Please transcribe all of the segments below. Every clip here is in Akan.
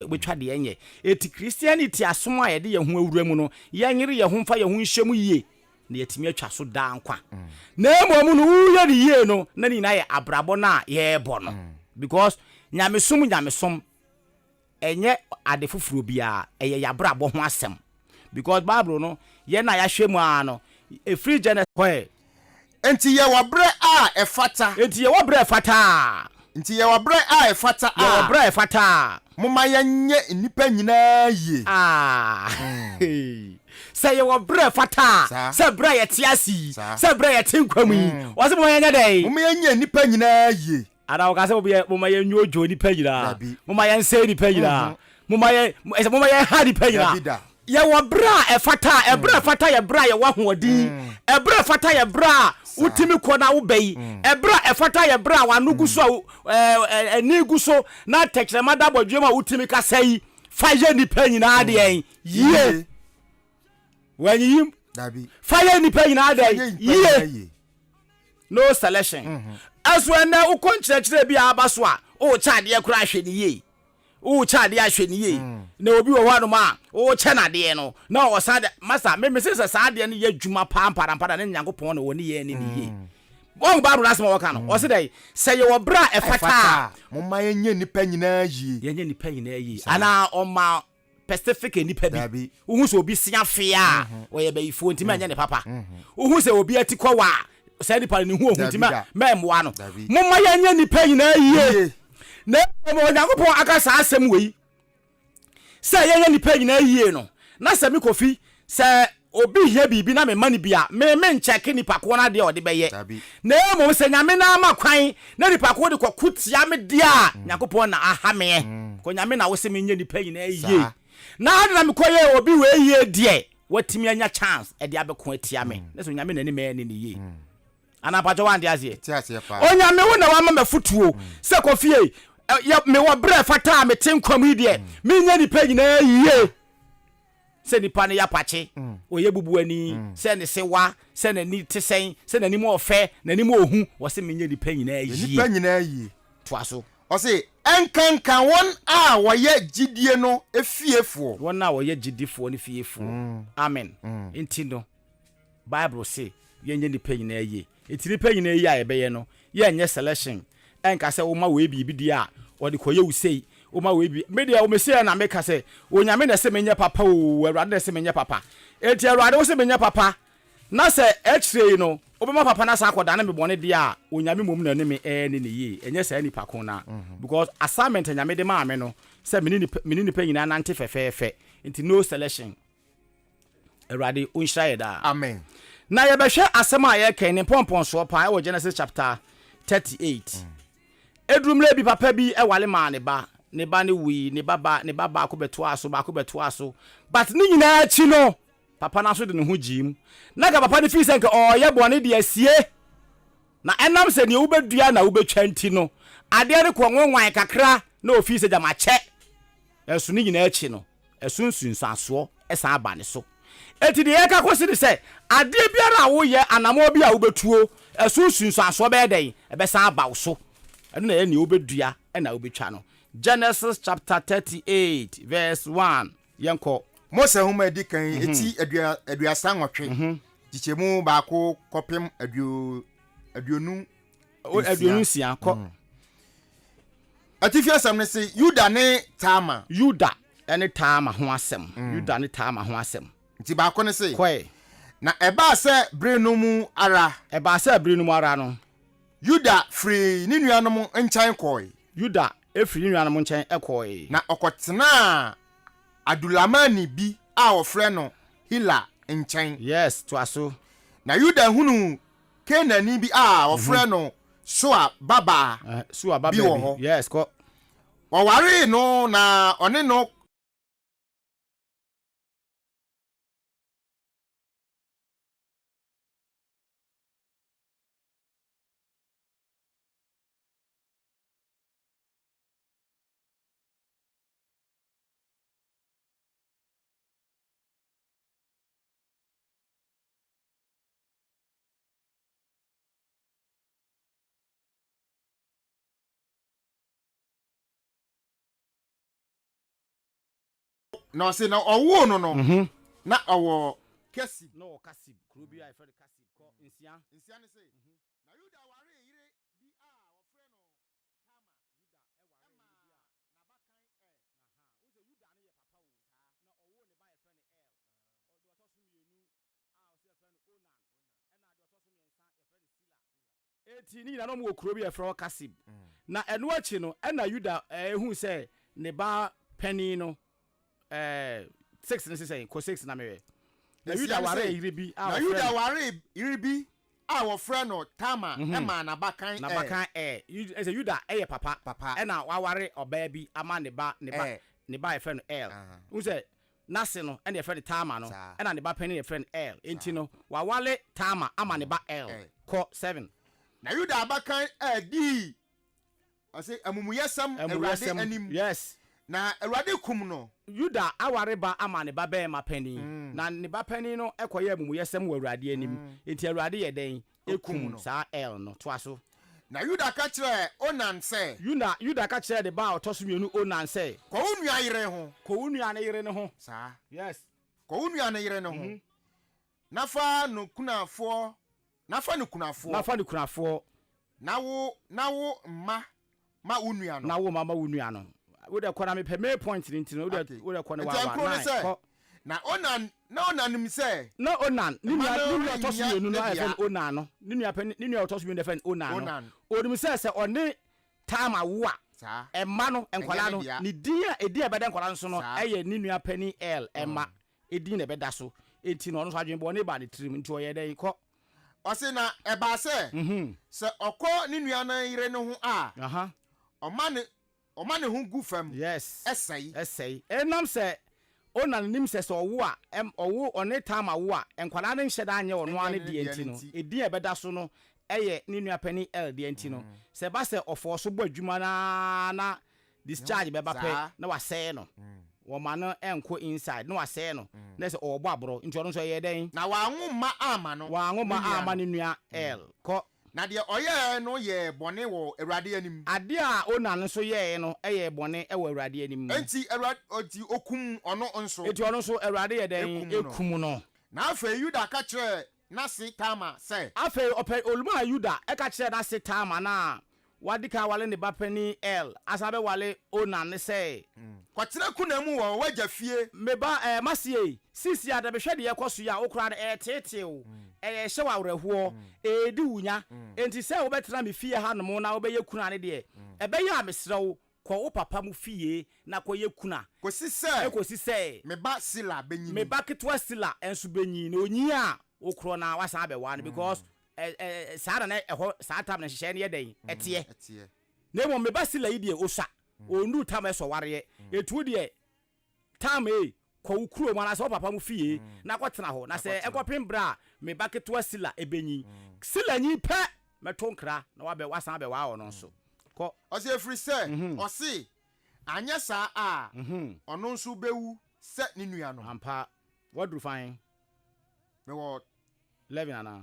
Wobɛtwa deɛ ɛnyɛ. Enti Christianity asom a yɛde yɛn ho awura mu no, yɛnyere yɛn ho mfa yɛn ho nhyɛ mu yie na yɛatumi atwa so daa nkwa. Na mmom no, woyɛ no yie no, na ne nyinaa yɛ abrabɔ no a yɛrebɔ no. Because nyamesom nyamesom, ɛnyɛ ade foforɔ biara, ɛyɛ yɛn abrabɔ ho asɛm. because Bible no, yɛn a yɛahwɛ mu ara no, ɛfiri Gene. Hɔ ɛ. Enti yɛwɔ berɛ a ɛfata. Enti yɛwɔ berɛ a ɛfata a. Enti yɛwɔ berɛ a ɛfata a. Yɛwɔ berɛ a ɛfata a. Momma yɛnyɛ nnipa nyinaa yie. Aah! Sɛ yɛwɔ berɛ a ɛfata a. Saa. Sɛ berɛ a yɛte ase yi. Saa. Sɛ berɛ a yɛte nkwa mu yi. Ɔse momma yɛnyɛ dɛn? Momma yɛnyɛ nnipa nyinaa yie. Anaa ɔka sɛ obiɛ moma yɛ nwoodwoo nipa nyinaa moma yɛ nsɛe nipa nyinaa mhm. moma yɛ ɛsɛ moma yɛ ha nipa nyinaa yɛwɔ berɛ a ɛfata a ɛberɛ a ɛfata yɛ berɛ a yɛwɔ ahoɔden mm. ɛberɛ a ɛfata yɛ berɛ a wotumi kɔ na wobɛ yi mm. ɛberɛ a ɛfata yɛ berɛ a wano gu so a ani gu so na tɛkyerɛma da bɔdwam a wotumi kasa yi fa yɛ nipa nyinaa deɛ mm. yie wanyiyim fa yɛ nipa nyinaa deɛ yie no selection mhm. ɛso ɛnɛ wokɔ nkyerɛkyerɛ bi a aba so a wokyɛ adeɛ koraa hwɛ ne yie wokyɛ adeɛ ahwɛ ne yie mm. na obi wɔ hɔ anom a wokyɛ no adeɛ no na ɔsan de masa memese sɛ saa adeɛ no yɛ adwuma paa mparampa na ne nyankopɔn na wɔ ne yɛ ne ne yie mm. wọn baabu n'asɛm a wɔka no mm. ɔsi dɛ sɛ yɛ wɔ bere a ɛfata a. mo ma yɛnyɛ nipa nyinaa yie. yɛnyɛ nipa nyinaa yie anaa ɔma Pacific nnipa bi. Dabi. Wohu sɛ obi se afe a ɔyɛ bayifoɔ nti mɛnyɛ ne papa. Wohu sɛ obi ati kɔ wa a saa nipa no ne ho ɔhu nti mɛ mɛmmoa no. Dabi. Momma yɛnyɛ nnipa nyinaa yie. Yie. Na mmom Onyankopɔn aka saa asɛm wei sɛ yɛnyɛ nnipa nyinaa yie no. Na sɛ me Kofi, sɛ Obi hia biribi na memma no bi a, me menkyɛke nnipa ko no adeɛ a ɔde bɛyɛ, na mmom sɛ Nyame no ara ma kwan na nnipa ko de kɔko tia me deɛ a, Nyankopɔn na aha meɛ, kɔ Nyame na wose menyɛ nnipa nyinaa yie, na ade na mekɔ yɛɛ obi wei yie deɛ, watumi anya chance de abɛko atia me, na sɛ Onyame na anim ɛne ne yie. Anaa mpakyɛw wante aseɛ? Onyame wo na wama me afotuo sɛ kɔ fie, mewɔ berɛ a ɛfata a mete nkwa mu yi deɛ, menyɛ nnipa nyinaa yie. sɛ nipa no yɛ apakye, ɔyɛ bubuani, sɛ ne sewa, sɛ n'ani te sɛn, sɛ n'anim ɔɔ fɛ, n'anim ɔɔ hu, ɔse menyɛ nnipa nyinaa yie. Yɛ nnipa nyinaa yie. Toa so. Ɔse, ɛnkanka wɔn a wɔyɛ gyidie no fiefoɔ. Wɔn a wɔyɛ gyidifoɔ no fiefoɔ. Amen. Enti no. Bible se yɛnyɛ nnipa nyinaa yie. Enti nnipa nyinaa yie a yɛbɛyɛ no, yɛnyɛ selection. Ɛnka sɛ woma wei biribi di a, ɔde kɔyɛ wo sei. Woma wei biribi. Me deɛ, mese ara na meka sɛ, Onyame na ɛse menyɛ papa oo, Awurade na ɛse menyɛ papa. Enti Awurade, wose menyɛ papa, na sɛ akyire yi no, wobɛma papa no asan akɔdane me bɔne deɛ a, Onyame mmom na ɛne me ɛɛne no yie, ɛnyɛ saa nnipa ko no ara. Because assignment a Nyame de maa me no, sɛ mene nnipa nyinaa nante fɛfɛɛfɛ. Enti no selection. Awurade ɔnhyira yɛ daa. Amen. Na yɛbɛhwɛ asɛm a yɛreka yi ne mpɔmpɔnsoɔ paa ɛwɔ Genesis chapter 38. Ɛduru mmerɛ bi papa bi wale maa ne ba, ne ba no wui, ne ba ba, ne ba baako bɛtoaa so, baako bɛtoaa so. But ne nyinaa akyi no, papa no nso de ne ho gyee mu. Na nka papa no fii sɛ nka ɔreyɛ bɔne de asie. Na ɛnam sɛ deɛ wobɛdua na wobɛtwa nti no, adeɛ no kɔɔ nwanwan kakra na ɔfii sɛ gya makyɛ. Nanso ne nyinaa akyi no, Ɛso nsunsuansoɔ san ba ne so. Enti deɛ yɛka kɔsi ne sɛ, adeɛ biara a woyɛ, anammɔn biara a wobɛtuo, ɛso nsunsuansoɔ bɛyɛ dɛn? Ɛbɛsan aba wo so. Ɛno na ɛyɛ nea wobɛdua na wobɛtwa no. Genesis chapter thirty eight verse one, yɛnkɔ. Mose Nhoma a Edi Kan, ti aduasa nnwɔtwe, nkyekyɛmu baako kɔpem aduonu. aduonu nsia kɔ mm. atifi asɛm no se yuda ne taama yuda ne taama ho asɛm mm. yuda ne taama ho asɛm nti baako ne se kɔe na ɛbaa sɛ bere no mu ara ɛbaa sɛ bere no mu ara no yuda firi ne nuanom nkyɛn kɔe yuda firi ne nuanom nkyɛn kɔe na ɔkɔtenaa adulamani bi a wɔfrɛ no hila nkyɛn yes toa so na yuda hunu Kanaanni bi a wɔfrɛ no Soa babaa bi wɔ hɔ. Wɔwaree no na ɔne no. na ɔse na ɔwoo no no mhm. na ɔwɔ kasib na ɔwɔ kasib kuro bi a yɛfrɛ no kasib kɔ nsia nsia ne se mhm. na yuda waree yere bi a wɔfrɛ no tama yuda ɛma nabakan ɛl na ɔwoo ne ba yɛfrɛ no ɛl ɔde ɔtɔ so mmienu a ɔse yɛfrɛ no Onan, ɛna deɛ ɔtɔ so mmiɛnsa yɛfrɛ no Sila. Enti ne nyinaa na wɔwɔ kuro bi a yɛfrɛ hɔ Kasib. Na ɛno akyi no, ɛna Yuda hui sɛ ne ba panin no, ɛɛ, six no se sɛn? Kɔ six na mehwɛ. Na Yuda waree yere bi a wɔfrɛ no. Na Yuda waree yere bi a wɔfrɛ no Tamar maa n'abakan Er. N'abakan Er. Ɛsɛ Yuda yɛ papa. Papa. Ɛna waware ɔbaa bi ama ne ba, ne ba, ne ba a yɛfrɛ no Er. Wohu sɛ N'ase no na yɛfrɛ no Tamar no, ɛna ne ba panin na yɛfrɛ no Er. Enti no, waware Tamar ama ne ba Er. Kɔ seven. Na Yuda abakan Er dii, ɔse, amumuyɛsɛm Awurade anim. Yes. Na Awurade kum no. Yuda aware ba ama ne ba barima panin, na ne ba panin no kɔyɛɛ amumuyɛsɛm wɔ Awurade anim. Enti Awurade yɛ dɛn? kum saa Er no. Toa so. Na Yuda ka kyerɛɛ Onan sɛ. Yuda, Yuda ka kyerɛɛ ne ba a ɔtɔ so mmienu Onan sɛ. Kɔ wo nua yere ho. Kɔ wo nua no yere no ho. Saa. Yes. Kɔ wo nua no yere no ho, na fa no kunafoɔ, na fa no kunafoɔ. Na fa no kunafoɔ. Na wo, na wo mma ma wo nua no. Na wo ma ma wo nua no. Wo de kɔ na me pɛ me point ni ntino. Wo de wo de kɔ ne wa wa nine kɔ. Na onan na onan nim sɛ. Na onan ne nua ne nua ɔtɔ so mmienu no ayɛ fɛn onan no ne nua pɛ ne nua ɔtɔ so mmienu ayɛ fɛn onan no onim sɛ sɛ ɔne taama wo a ɛma no nkwadaa no ne din a edin a ɛbɛda nkwadaa no so no ɛyɛ ne nua pɛ ni l ɛma. Mm. din na ɛbɛda so. Enti na ɔno nso adwene bɔne baa ne tirim. Enti ɔyɛɛ dɛn? Kɔ. Ɔse, Na ɛbaa sɛ, sɛ ɔkɔ ne nuanan yere no ho a, ɔma ne ɔma ne ho gu fam, ɛsɛe. Ɛsɛe. Ɛnam sɛ Onan nim sɛ sɛ ɔwo a, ɛm, ɔwo, ɔne Tamar wo a, nkwadaa no nhyɛ da nyɛ ɔno ara ne deɛ nti no, edin a ɛbɛda so no yɛ ne nua panin Er deɛ nti no, sɛ ɛba sɛ ɔfɔɔ so bɔ adwuma no ara na discharge bɛba pɛ na wasɛe no wɔma no nkɔ inside na wasɛe no na sɛ ɔwɔ bɔ aborɔ nti ɔno nso ɛyɛɛ dɛn na wanwo mma amma no wanwo mma amma ne nua el kɔ na deɛ ɔyɛɛ no yɛɛ bɔne wɔ awurade anim. Adeɛ a Onan nso yɛɛe no yɛɛ bɔne wɔ awurade anim. Enti awurade enti okum ɔno nso. Enti ɔno nso awurade yɛ dɛn ekum no. Na afei Yuda ka kyerɛɛ n'ase Tamar sɛ. Afei ɔpɛ ɔlu maa Yuda ka kyerɛɛ n'ase Tamar no a wadi kan aware ne ba panin Er, asan bɛware Onan no sɛ. Kɔtena kuna mu wɔ w'agya fie. Me ba, mase yei, seesei ara mehwɛ deɛ ɛrekɔ so yi a, wo koraa no, ɛreteetee wo, ɛrehyɛ wo awerɛhoɔ, ɛredi wo nya, enti sɛ wobɛtena me fie hanom na wobɛyɛ kunu a ne deɛ, ɛbɛyɛ a mesrɛ wo, Kɔ wo papa mo fie na kɔyɛ kunu a. Kɔsi sɛ. Kɔsi sɛ. Me ba Sila bɛnyini. Me ba ketewa Sila nso bɛnyin. Na ɔnyin a, wo korɔ no ara woasan abɛware no because saa na na ɛhɔ saa tam no nhyehyɛeɛ no yɛ dɛn? Ɛteɛ. Na mmom me ba Sila yi deɛ, ɔsua. Ɔnnuru tam a ɛsɔ wareɛ. Enti wo deɛ. Tam, Ei, kɔ wo kurom anaasɛ wo papa mo fie na kɔtena hɔ, na sɛ ɛkɔpem berɛ a me ba ketewa Sila bɛnyin, Sila nyin pɛ, mɛto nkra na wabɛ, wasan abɛwaa ɔno nso. Kɔ. Ɔse, Ɛfiri sɛ, ɔse, anyɛ saa a, ɔno nso bɛwu sɛ ne nuanom. Ampa. Woaduru fan? Mewɔ. Lɛven anaa?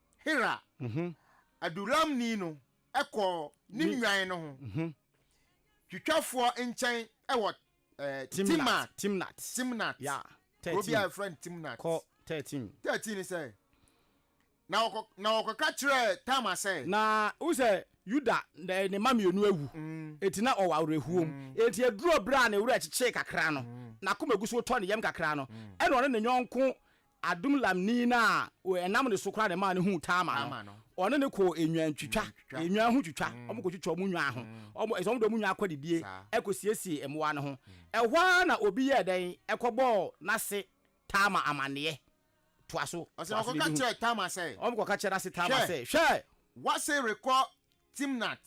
Hira, Adulamni no kɔɔ ne nnwan no ho twitwafoɔ nkyɛn wɔ Timnat, Timnat, Timnat, yeah, kuro bi a yɛfrɛ no Timnat. Kɔ thirteen. Thirteen ni sɛ, na wɔkɔ na wɔkɔka kyerɛɛ Tamar sɛ. Na wohu sɛ Yuda ne ne mma mmienu awu, enti na ɔwɔ awerɛhoɔ mu. Enti ɛduruu berɛ a ne werɛ kyekyee kakra no, n'akoma gu so retɔ ne yam kakra no, ɛnna ɔne ne yɔnko Adulamni no a ɛnam ne so koraa na ɛmaa no huu Tamar no, Tamar no. ɔne no kɔɔ nnwantwitwa, Nnwantwitwa. nnwan ho twitwa. Wɔn kɔtwitwa wɔn nnwan ho. Wɔn ɛsɛ wɔn de wɔn nnwan akɔdidie Saa. kɔsiesie mmoa no ho. Ɛhɔ ara na obi yɛɛ dɛn? Ɛkɔbɔɔ n'ase Tamar amanneɛ. Toa so. Ɔsɛ Toa so na ɔkɔka yɛbɛhu. kyerɛɛ Tamar sɛ, Wɔn kɔka kyerɛ n'ase Tamar Hwɛ. sɛ, Hwɛ! W'ase rekɔ Timnat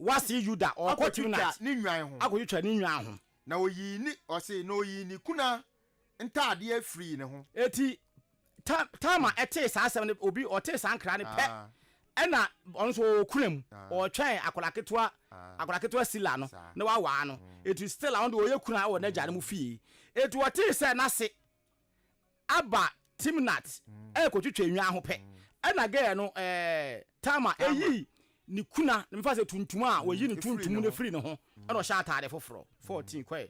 W'ase Yuda, ɔrekɔ akɔtwitwa Timnat ne nnwan ho. akɔtwitwa ne nnwan ho. Na oyii ne ɔse na oyii ne kuna ntaadeɛ afirii ne ho. Enti Tamar tee saa asɛm no, obi ɔtee saa nkra no pɛ, ɛna ɔno nso ɔwɔ kura mu, ɔretwɛn akwadaa ketewa, akwadaa ketewa Sila no, na wawaa no. Enti Stella ɔno deɛ ɔyɛ kura wɔ n'agya no mu fie. Enti ɔtee sɛ n'ase aba Timnat ɛrekɔtwitwa nnwan ho pɛ, ɛna gɛɛ no ɛɛ Tamar ɛyii ne kuna, mefa sɛ tuntum a wɔyi no tuntum no firii ne ho, ɛna ɔhyɛ ataade foforɔ, 14 kɔɛ.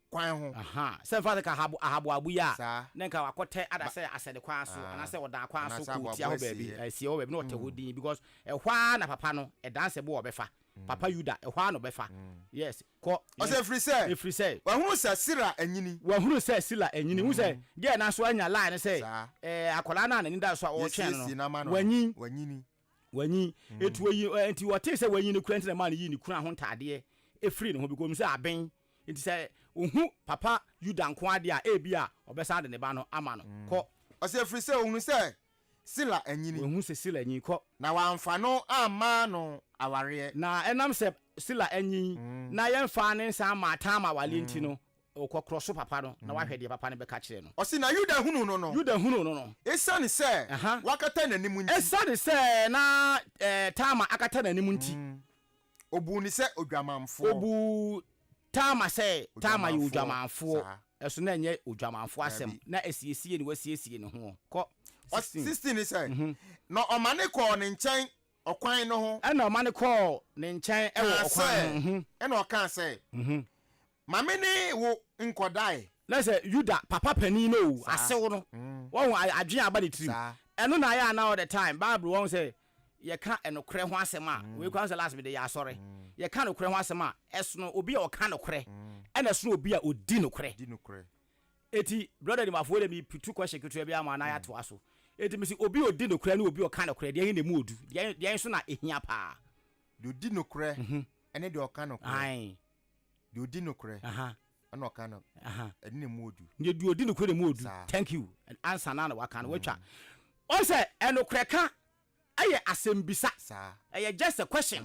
kwan ho. Ahaa, sɛ mfa no ka Ahab, Ahaboabo yi a, Saa. na nka wakɔtɛ ada Ba. sɛ asɛde kwan so, Aa, anaasɛ ɔdaa kwan so anaasɛ kɔɔ tia aboaboa hɔ baabi, asieɛ. asieɛ hɔ baabi na ɔtɛ hɔ dinn, because ɛhɔ ara na papa no, ɛdan sɛ bo a ɔbɛfa, papa Yuda, ɛhɔ ara na ɔbɛfa. Yes, kɔ. Ɔsɛ ɛfiri sɛ, Ɛfiri sɛ. wahunu sɛ Sira anyini. Wahunu sɛ Sila anyini. Wohu sɛ, deɛ na so anya lie no sɛ, Saa. ɛɛ, akwadaa no a n'ani da so a ɔretwɛn no Yɛsiesie no ama no no, wanyin. wanyini. Wanyin. Enti oyi, ɛɛ, enti ɔtee sɛ wanyin no kura nti na ɛmaa no yii ne kunu ahontadeɛ firii ne ho, because onim sɛ aben Enti sɛ ohu papa Yuda nko ara de a, ebia ɔbɛsan de ne ba no ama no. Kɔ. Ɔsɛ ɛfiri sɛ ɔhunu sɛ Sila anyini. Ɔhunu sɛ Sila anyini. Kɔ. Na wamfa no amma no awareɛ. Na ɛnam sɛ Sila anyini na yɛmfaa ne nsa mmaa Tamar awareɛ nti no, kɔ korɔ so papa no na woahwɛ deɛ papa no bɛka kyerɛ no. Ɔse na Yuda hunuu no no. Yuda hunuu no no. Esiane sɛ wakata n'anim nti. Esiane sɛ na Tamar akata n'anim nti. Obuu no sɛ odwamanfoɔ. Obuu Tamar sɛ Tamar yɛ odwamanfoɔ. Odwamanfoɔ, saa. Ɛso na ɛnyɛ odwamanfoɔ asɛm. Daabi. Na asiesie ne wasiesie ne hoɔ. Kɔ, Ɔ, sixteen. sixteen ne sɛ, Na ɔma ne kɔɔ ne nkyɛn ɔkwan no ho. Ɛna ɔma no kɔɔ ne nkyɛn wɔ ɔkwan no ho. Kaa sɛ, ɛna ɔkaa sɛ. Ma me ne wo nkɔdae. Na sɛ Yuda papa panin no wu, asew no, wahu adwene a aba ne tirim. Ɛno na ayɛ a na all the time Bible wahu sɛ yɛka nokorɛ ho asɛm a, wei koraa sɛ last mede yɛ asɔre, yɛka nokorɛ ho asɛm a, ɛsono obi a ɔka nokorɛ ɛna ɛsono obi a ɔdi nokorɛ. Enti brɔda Nimafo wei deɛ mereputu question ketewa bi ama na yɛatoa so. Enti mese obi a ɔdi nokorɛ ne obi a ɔka nokorɛ, deɛn na ɛmu ɔdu? Deɛn so na ɛhia paa? Deɛ ɔdi nokorɛ ne deɛ ɔka nokorɛ. Deɛ ɔdi nokorɛ ɛna ɔka no ɛne ne mu odu. Deɛ deɛ ɔdi nokorɛ ne mu odu. Thank you. Ansa na na waka no watwa. Wɔn sɛ ɛnokorɛ ka ɛyɛ asɛmbisa. Ɛyɛ just a question.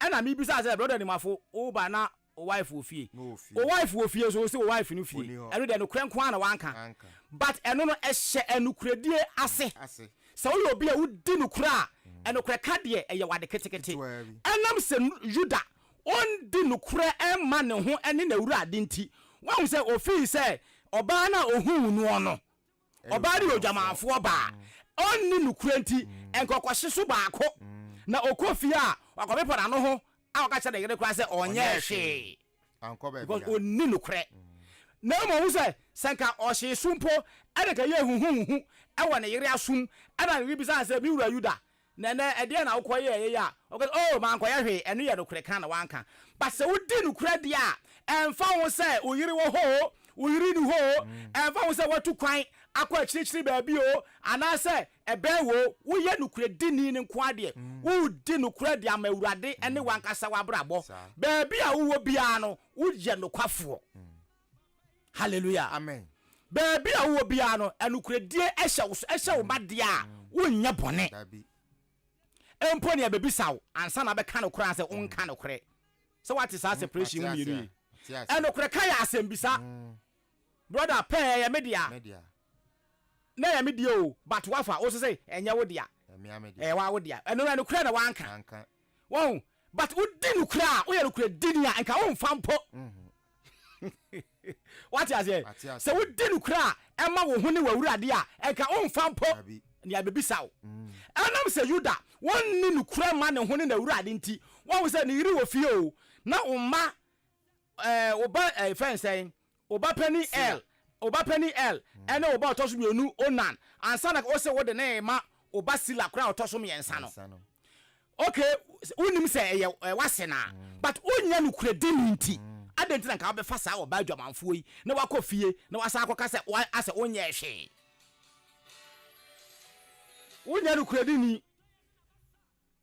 Ɛna mi bisa sɛ brɔda Nimafo wo ba na wo wife wɔ fie. Wo wife wɔ fie nso wo se wo wife no fie. Ɛno deɛ nokorɛ nko ara na wanka. But ɛno no ɛhyɛ ɛnokorɛdie ase. Sɛ woyɛ obi a wodi nokorɛ a ɛnokorɛ ka deɛ ɛyɛ wade ketekete. Ɛnam sɛ Yuda ɔndi nokorɛ mma ne ho ne n'Awurade nti, wahu sɛ ɔfii sɛ ɔbaa no a ɔhuu noɔ no, ɔbaa no yɛ odwamanfoɔ baa, ɔnni nokorɛ nti, nkɔkɔhye so baako, na ɔkɔ fie a, wakɔpepa n'ano ho a ɔka kyerɛ ne yere koraa sɛ ɔnyɛɛ hwee, because ɔnni nokorɛ. Na mmom ɔhu sɛ, sɛ nka ɔhyee so mpo, ɛne nka yɛɛ huhuuhu wɔ ne yere asom, ɛna ne yere bisaa no sɛ, Me wura Yuda, Na ɛnnɛ, ɛdeɛn na wokɔyɛeɛ yi a woka sɛ, Oh, mankɔyɛ hwee, ɛno yɛ nokorɛ ka na woanka. But sɛ wodi nokorɛ deɛ a, ɛmfa ho sɛ wo yere wɔ hɔ o, wo yere nni hɔ o, ɛmfa ho sɛ woatu kwan akɔ akyirikyiri baabi o, anaasɛ ɛbɛn wo o, woyɛ nokorɛdini no nko ara deɛ, wodi nokorɛ de ama Awurade ne w'ankasa w'abrabɔ, baabi a wowɔ biara no, woyɛ nokwafoɔ. hallelujah amen baabi a wowɔ biara no anokoradie ɛhyɛ wo so ɛhyɛ wo ma deɛ a wonyɛ bɔne mpo nea bɛbisa wo ansa na bɛka no koraa sɛ wonka nokorɛ sɛ woate saa separation mu mmienu yi ɛnokorɛ ka yɛ asɛmbisa brɔda pɛɛ yɛ me dea na ɛyɛ me deɛ o but wafa wo so sɛ ɛnyɛ wo dea ɛyɛ wa wo dea ɛno no nokorɛ na wanka wahu but wodi nokorɛ a woyɛ nokorɛ dini a nka womfa mpo wate aseɛ sɛ wodi nokorɛ a ɛma wo ho ne wawurade a ɛnka womfa mpo nea ɛbɛbisa wo mm. ɛnam sɛ yuda wɔnni nokorɛ ma ne ho ne n'awurade nti wahu sɛ ne yere wɔ fie o na wo mma Ɛɛ wo ba ɛɛ fɛn sɛn wo ba panin ɛl wo ba panin ɛl ɛne wo ba ɔtɔ so mmienu onan ansa na wose wode ne ma wo ba sila koraa ɔtɔ so mmiɛnsa no ok wonim sɛ ɛyɛ ɛɛ wase na but wonya no kura di ne nti adɛn nti na nka wobɛfa saa ɔbaa adwamanfoɔ yi na wakɔ fie na wasan akɔka sɛ wa asɛ wonyɛ hwee wonya no kura di ni.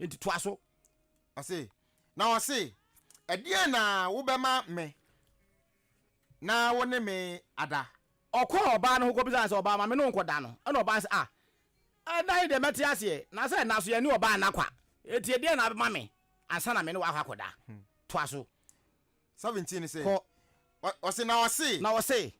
Enti toa so. Ɔse, na ɔse, Ɛdeɛn na wobɛma me na wo ne me ada? Ɔkɔɔ ɔbaa no ho kɔbisaa no sɛ, Ɔbaa, ma me ne wo nkɔda no. Ɛna ɔbaa no se, Ah, ɛnna yi deɛ mɛte aseɛ, na sɛ ɛnna so yɛne ɔbaa nna kwa. Enti ɛdeɛn na wobɛma me ansa na me ne wo akɔ akɔda? Toa so. 17 no sɛ, Kɔ. Ɔse, na ɔse. Na ɔse.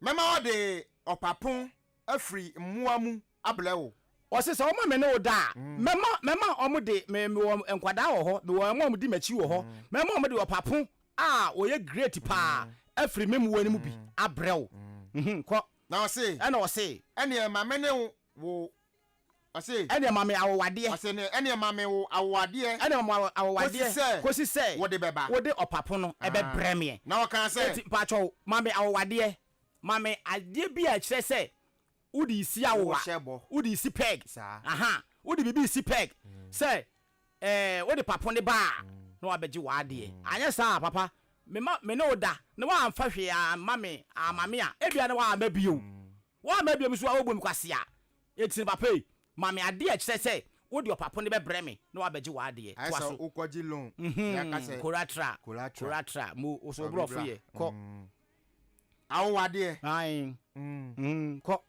Mɛma wɔde ɔpapo afiri mmoa mu abrɛ wo. Ɔse sɛ wɔma me ne wo da a, mɛma mɛma wɔn de me mewɔ nkwadaa wɔ hɔ, mewɔ wɔn a wɔdi m'akyi wɔ hɔ, mɛma wɔn de ɔpapo a ɔyɛ great paa afiri me mmoa no mu bi abrɛ wo. Mhm, kɔ. Na ɔse. Ɛna ɔse. Ɛneɛ ma me ne wo, ɔse. Ɛneɛ ma me awowadeɛ. Ɔse ne, ɛneɛ ma me wo awowadeɛ. Ɛneɛ ma me awo, awowadeɛ. Kosi sɛ. Kosi sɛ. Wode bɛba. Wode ɔpapo no ɛbɛbrɛ meɛ. Na ɔkaa sɛ. Eti mpakyɛw, ma me awowadeɛ, ma me adeɛ bi a ɛkyerɛ sɛ Wode si awowa. Wode si peg. Aha. Wode biribi si peg sɛ eh, wode papo ne ba a, na wabɛgye w'adeɛ. Anyɛ saa a, papa, me ma me ne wo da na woamfa hwee amma me, amma me a, ebia na woamma bio. Woamma bio nso a, wobu me kwasea. Enti no, papa ei, ma me adeɛ a ɛkyerɛ sɛ wode ɔpapo no bɛbrɛ me na wabɛgye w'adeɛ. Ayɛ Toa sɛ so. wokɔgye loan, na yɛaka Mhm. sɛ Collateral. collateral. Collateral. Mo, wo so wo Ɔbɛbra. borɔfo yɛ. Kɔ. Mm. Awowa deɛ. Ae. Mm. Kɔ.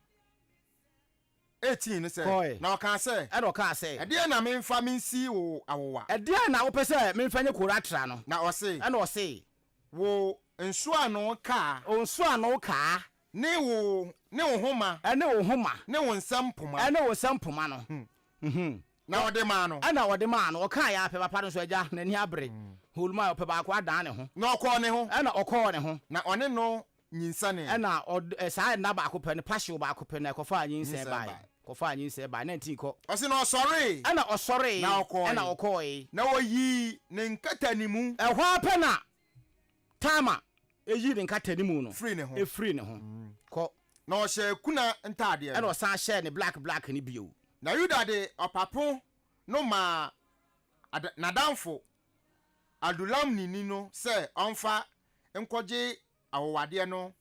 Eighteen no sɛ. Kɔe. Na ɔkaa sɛ. Ɛna ɔkaa sɛ. Ɛdeɛn na memfa mensi wo awowa? Ɛdeɛn na wopɛ sɛ memfa nye Kora tra no? Na ɔse. Ɛna ɔse. Wo nsoano kaa. Wo nsoano kaa. Ne wo, ne wo homa. Ɛne wo homa. Ne wo nsam poma. Ɛne wo nsam poma no. Na ɔde maa no. Ɛna ɔde maa no. Ɔkaa yɛ apɛ papa no nso, agya, n'ani abere. Holmaa ɔpɛ baako adan ne ho. Na ɔkɔɔ ne ho. Ɛna ɔkɔɔ ne ho. Na ɔne no nyinsɛnee. Ɛna ɔd, ɛ, saa nna baako pɛ no, pahyew baako pɛ no, ɛkɔfaa nyinsɛn bae. Kɔfaa nyinsɛn bae, na nti nkɔ. Ɔse na ɔsɔree. Ɛna ɔsɔree. Na ɔkɔɔe. Ɛna ɔkɔɔe. Na ɔyii ne nkatanimu. Ɛhɔ ara pɛ na Tamar yii ne nkatanimu no firii ne ho. firii ne ho. Kɔ. Na ɔhyɛɛ kuna ntaadeɛ Ɛna no. ɔsan hyɛɛ ne black black no bio. Na Yuda de ɔpapo no maa ad, n'adamfo Adulamni ni no sɛ ɔmfa nkɔgye awowadeɛ no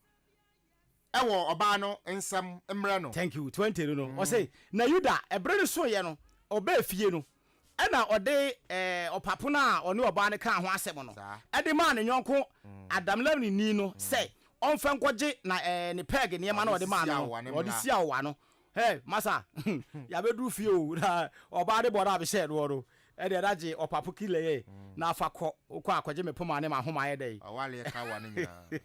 wɔ ɔbaa no nsɛm mmerɛ no. Thank you, twenty no no, ɔse, Na Yuda, ɛbere no soeɛ no, ɔbaa fie no, ɛna ɔde ɔpapo no a ɔne ɔbaa no kaa ho asɛm no de maa ne yɔnko Adamlamnini no sɛ ɔmfa nkɔgye na ne pɛɛge nneɛma no a ɔde maa no no, ɔde si awowa no. Hɛ, masa, yɛabɛduru fie o, na ɔbaa no bɔ no a mehyɛɛ noɔ no, ɛdeɛ na gye ɔpapo kilɛɛ na fa kɔ, wokɔ a kɔgye me poma ne m'ahoma yɛ dɛn? Ɔwaleɛ ka awowa no nyinaa.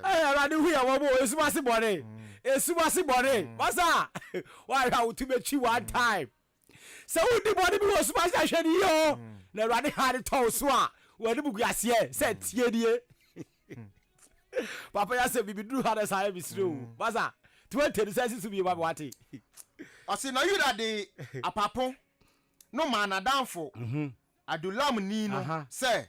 awurade hu yɛ wɔbɔ esum ase bɔne esum ase bɔne wasa wahwɛ a wotu bɛkyi one time sɛ wodi bɔne bi wɔ esum ase ahwɛ ne yie o na awurade ha de tɔw so a wɔde bugu aseɛ sɛ tie nie papa yɛ asɛ bibi duru ha na saa yɛ mesire o wasa tí wọ́n tẹ̀lé sẹ́sì sùn yìí wà wá ti. ọ̀sìn na yuda de apapon no maa n'adanfo mhm. adulam ni no sɛ.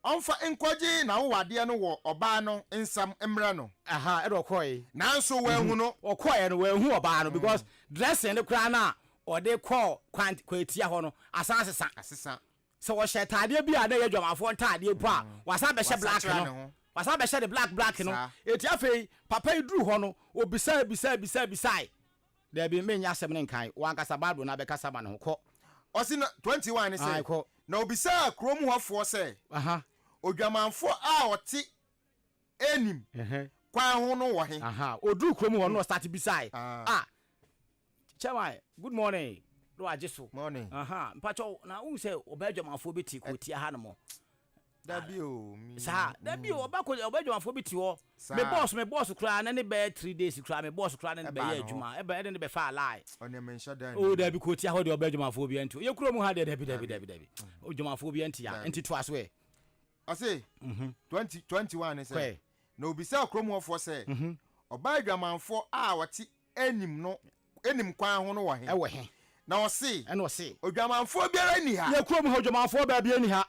Ɔmfa nkɔgye n'awowadeɛ no wɔ ɔbaa no nsam mmrɛ no. Ahaa ɛna ɔkɔɔe. Nanso wanhu no. Ɔkɔɔeɛ no wanhu ɔbaa no because dressing no koraa no a ɔde kɔɔ kwan kwatia hɔ no asan asesa. Asesa. Sɛ ɔhyɛ ataadeɛ bi a na ɛyɛ adwamanfoɔ ntaadeɛ mpo a wasan abɛhyɛ black no. Wasakyera ne ho. Wasan abɛhyɛ ne black black no. Saa. Enti afei papa yi duruu hɔ no ɔbisaa bisaa bisaa bisaae. Dabi, menyɛ asɛm no nkae. W'ankasa Bible no ara bɛkasa ma no ho. Kɔ. Ɔse na, 21 ne sɛ, Ae, kɔ. Na obisaa kurom hɔfoɔ sɛ, Aha. Odwamanfoɔ a ɔte Enim Ɛhɛ. kwan ho no wɔ he? Aha. Oduruu kurom hɔ no na ɔstarte bisaae. Ah. Ah, Chairman, good morning, na wagye so. Morning. Aha, mpakyɛw, na wohu sɛ ɔbaa adwamanfoɔ bi te kurotia hanom? Dabi o me. Saa dabi o ɔba kɔ ɔba adwumafoɔ bi te hɔ me boss me boss koraa na ne bɛyɛ three days koraa me boss koraa na ne bɛyɛ adwuma ɛbɛ ɛna ne bɛ fa alae. Ɔne me nhyɛ dan. O dabi kɔ tia hɔ deɛ ɔba adwumafoɔ bi ɛnti yɛ kuro mu ha deɛ dabi dabi dabi dabi adwumafoɔ bi ɛnti ya ɛnti to aso ɛ. Ɔse twenty twenty one ne sɛ na obisa kuro mu ɔfoɔ sɛ ɔba adwamanfoɔ a ɔte nim no, nim kwan ho no wɔ he? Ɛwɔ he? Na ɔse. Ɛna ɔse. Odwamanfoɔ biara nni ha. Yɛ kurom ha odwamanfoɔ baa biara nni ha.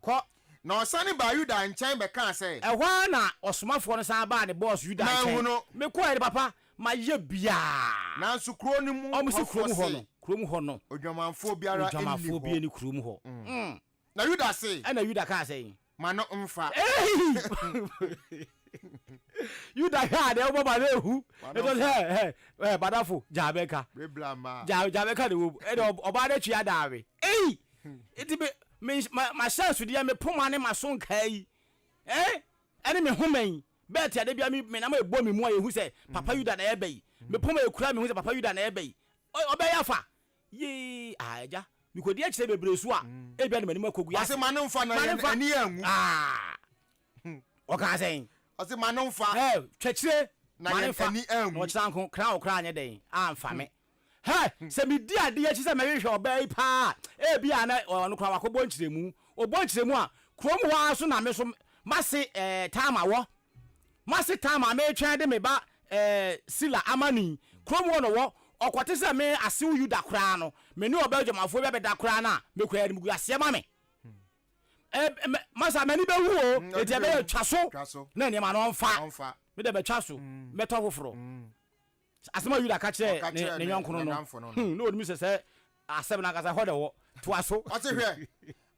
Kɔ. Na ɔsane baa Yuda nkyɛn bɛkaa sɛ. Ɛhɔ ara na ɔsomafoɔ no san baa ne boss Yuda nkyɛn. Manhu no. Mekɔeɛ no, papa, mayɛ biara. Nanso kuro no mu hɔfoɔ se. Wɔse kurom hɔ no, kurom hɔ no. Odwamanfoɔ biara nni hɔ. Odwamanfoɔ biara nni kurom hɔ. Na Yuda se. Ɛna Yuda kaa sɛ. ma no mfa. Hey! Yuda hwɛ a deɛ wobɔ ma no ehu. Ɛtɔ sɛ ɛ ɛ badafo gyaa bɛka. Bebla ma. Gyaa gyaa bɛka de wom. Ɛde ɔbaa no atwi adaawe. Ei! Eti me me ma ma hyɛ nsudeɛ me poma ne ma so nkaa yi. Eh? Ɛne me homa yi. Bɛɛ te ade bia me me nam ebɔ me mu a ehu sɛ papa Yuda na ɛbɛ yi. Me poma ekura me hu sɛ papa Yuda na ɛbɛ yi. Ɔbɛyɛ afa. Yii, ah, Agya, mekɔdi akyire bebree su a, ebia de m'anim akɔ gu. Ɔse ma no nfa na yɛn ani anwu. Ah, ɔkaa sɛn? Ɔse ma no nfa. Hey, twɛkyire, ma no nfa, na ɔkyena nko, kra wo koraa anyɛ dɛn, amfa me. Hey, sɛ medi ade akyi sɛ mɛhwehwɛ ɔbaa yi paa a, ebia na ɔno koraa wakɔbɔ nkyerɛmu. Ɔbɔ nkyerɛmu a, kurom hɔ ara nso na me nso m'ase, eh, Tama wɔ. Mase tan ma meretwɛn de me ba eh, Sila amane yi, kurom hɔ na ɔwɔ, ɔkɔte sɛ me asew Yuda koraa no, me ne ɔbaa adwamanfoɔ bi abɛda koraa no a, mekura animguaseɛ ma me. Eh, me, masa m'ani bɛwu o, Mm, enti ɛbɛyɛ twa so, twa so na nneɛma no ɔmfa, ɔmfa. me de bɛtwa so, mm. mɛtɔ foforɔ. Mm. Asɛm a Yuda ka kyerɛɛ Ɔka ne kyerɛɛ ne ne yɔnkonom no, n'adamfo no no. hmm, na onim sɛ sɛ asɛm no ankasa hɔ na ɛwɔ. Toa so. Ɔse, Hwɛ,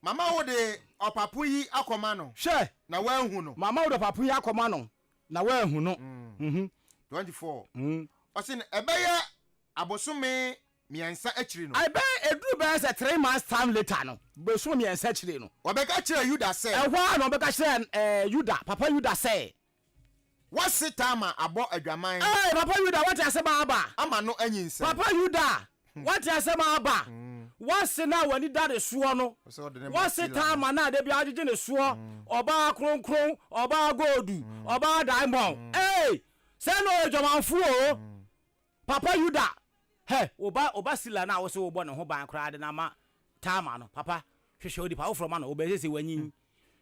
mama wode ɔpapo yi akɔma no, Hwɛ, na woahu no. mama wode ɔpapo yi akɔma no, na woahu no. Mhm. 24, Mm. ɔse, Na ɛbɛyɛ abosome mmiɛnsa akyiri no, Ɛbɛyɛ eduru bɛyɛ sɛ three months time later no, bosome mmiɛnsa akyire no, wɔbɛka kyerɛɛ Yuda sɛ, ɛhɔ ara na wɔbɛka kyerɛɛ ɛɛ Yuda, papa Yuda sɛ, Wɔse Tamar abɔ adwaman. Ee Papa Yuda woate asɛm a aba. Ama no anyinsɛn. Papa Yuda woate asɛm a aba. Wɔse na w'ani da ne soɔ no. Wɔse Tamar na da biara gyegye ne soɔ. Ɔbaa kronkron, ɔbaa goldu, ɔbaa diamond. Ee sɛɛ na ɔyɛ dwamanfoɔ o. Papa Yuda, hɛ, wo ba, wo ba Sila no a wose worebɔ ne ho ban koraa de no ama Tamar no, papa, hwehwɛ onipa foforɔ ma no, ɔbɛn sɛ sɛ wanyin.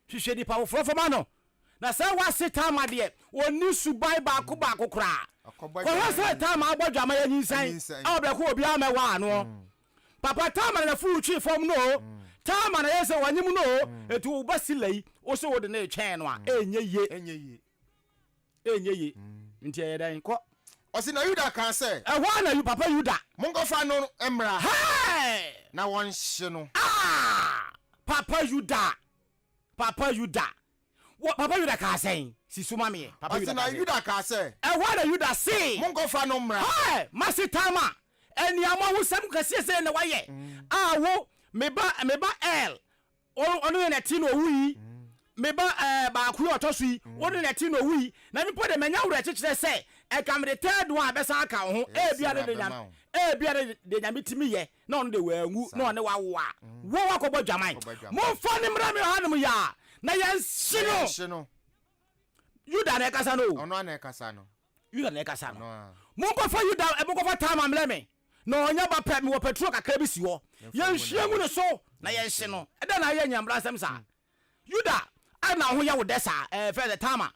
Hwehwɛ nipa foforɔ fa ma no. Na sɛ w'ase Tamar deɛ, ɔnni suban baako baako koraa. Kɔhwɛ sɛ Tamar abɔ adwaman anyinsɛn, a ɔbrɛko obiara mmɛwaa no. Papa, Tamar na fuu twee fam no o, Tamar na yɛɛ sɛ wanyem no o, enti wo ba Sila yi, wose wode no retwɛn no a, ɛnyɛ yie. Ɛnyɛ yie. Nti ɛyɛ dɛn? Kɔ. Ɔse, na Yuda kaa sɛ. Ɛhɔ ara na papa Yuda. Monkɔfa no mmra. Hɛɛ! Na wɔnhye no. Aah! Papa Yuda! Papa Yuda! Wɔ, papa Yuda kaa sɛn? Si so ma me ɛ. Papa Yuda kaa sɛ. Ɔse, na Yuda kaa sɛ. Ɛhɔ ara na Yuda se. Monkɔfa no mmra. Hɛɛ! M'asetama! Aniammɔhosɛm kɛseɛ sɛn na wayɛ? A wo, me ba, me ba El, Ɔno ɔno yɛ na ɛte na ɔwu yi, me ba ɛɛ baako yi a ɔtɔ so yi, ɔno yɛ na ɛte na ɔwu yi, na mpo de manya awerɛkyekyerɛ sɛ nka mede third one bɛsan aka wo ho, ebia ne de Nyame ebia ne de Nyame tumi yɛ na ɔno de wanwu na ɔne wo awo a, wo woakɔbɔ dwaman. Momfa no mmra me hanom yi ara na yɛnhye no. Yuda na ɛkasa no o. Yuda na ɛkasa no. Monkɔfa Yuda, monkɔfa Tamar mmrɛ me, na ɔnyɛ ba pɛ. Mewɔ petrol kakra bi si hɔ. Yɛnhwie ngu ne so na yɛnhye no. Ɛdɛn na ayɛ nyambrasɛm saa? Yuda, adɛn na wo ho yɛ wo dɛ saa? Ɛɛ, frɛ sɛ Tamar.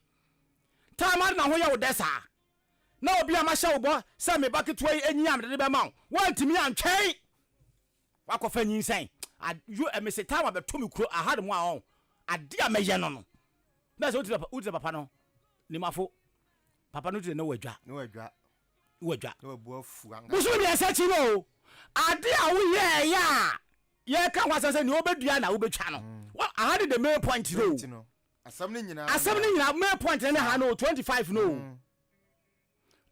Tamar, adɛn na wo ho yɛ wo dɛ saa? Na obi a mahyɛ wo bɔ sɛ me ba ketewa yi nyi a mede no bɛma wo, woantumi antwɛn. Wakɔfa nyinsɛn. A yo eh, mese time abɛto me kuro aha nom a ɔn. Ade a mɛyɛ no no. Bɛɛ sɛ wotiri papa, wotiri papa no. Nimafo. Papa no tiri ne wɔ adwa. Ne wɔ adwa. Ne wɔ adwa. Ne wɔ bu afu anga. Bosom mmiɛnsa akyi no o. Ade a woyɛ ɛyɛ a. Yɛka ho asɛm sɛ nea wobɛdua na wobɛtwa no. Mm. Well, aha ne the main point no. Asɛm ne nyinaa. Asɛm ne nyinaa main point ne ha no 25 no. Mm.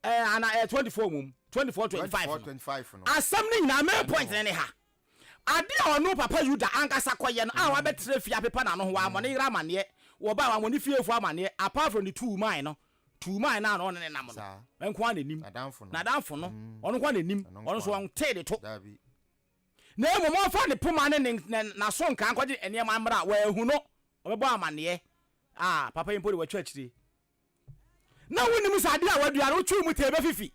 ɛɛ ana ɛyɛ twenty four mom twenty four twenty five no asɛm ne nyinaa main point ne ne ha ade a ɔno papa yuda ankasa kɔyɛ no a mm. wabɛtena fie apepa n'ano ho wɔamɔ ne yere amaneɛ wɔba wɔamɔ ne fiefo amaneɛ apart from the two man no two man no a ɔne ne nam no nko a n'anim n'adamfo no mm. ɔno nko a n'anim ɔno nso wɔn tee de to na mmom ɔmfa ne poma ne ne n'aso nkaa nkɔgye nneɛma mmra wɔahu no ɔbɛbɔ amaneɛ a papa yi mpo de wɔatwa akyire Na wonim sɛ adeɛ a wadua no, wotwiw mu tee bɛfifi.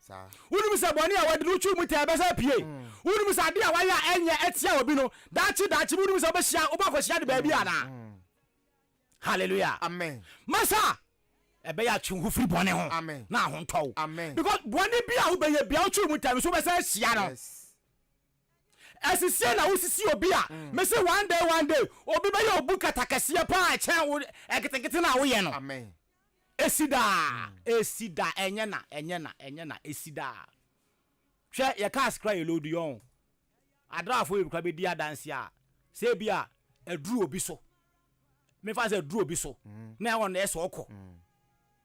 Wonim sɛ bɔne a wadi no, wotwiw mu tee bɛsan apue. Wonim sɛ adeɛ a wayɛ a ɛnyɛ atia obi no, daakye daakye bi wonim sɛ wobɛhyia, wobɔ akɔhyia de baabi anaa? Hallelujah. Amen. Masa ɛbɛyɛ atwe ho firi bɔne ho Amen. na ahontɔ wo. Amen. Because bɔne bi a wobɛyɛ bia wotwiw mu tee no so wobɛsan ahyia no. Yes. Ɛsisiɛ na wosisi obi a, me se one day one day obi bɛyɛ obu kata kɛseɛ paa ɛkyɛn wo ɛketekete no a woyɛ no. Amen. Esi daa, esi da, ɛnyɛ na, ɛnyɛ na, ɛnyɛ na, esi daa. Hwɛ yɛ cars kora yɛ load yɔn. Adrafo yɛ kora bɛdi adanse a, sɛ ebi a ɛduru obi so. Mefa sɛ ɛduru obi so, mm. na ɛwɔ no ɛsɛ ɔkɔ. Mm.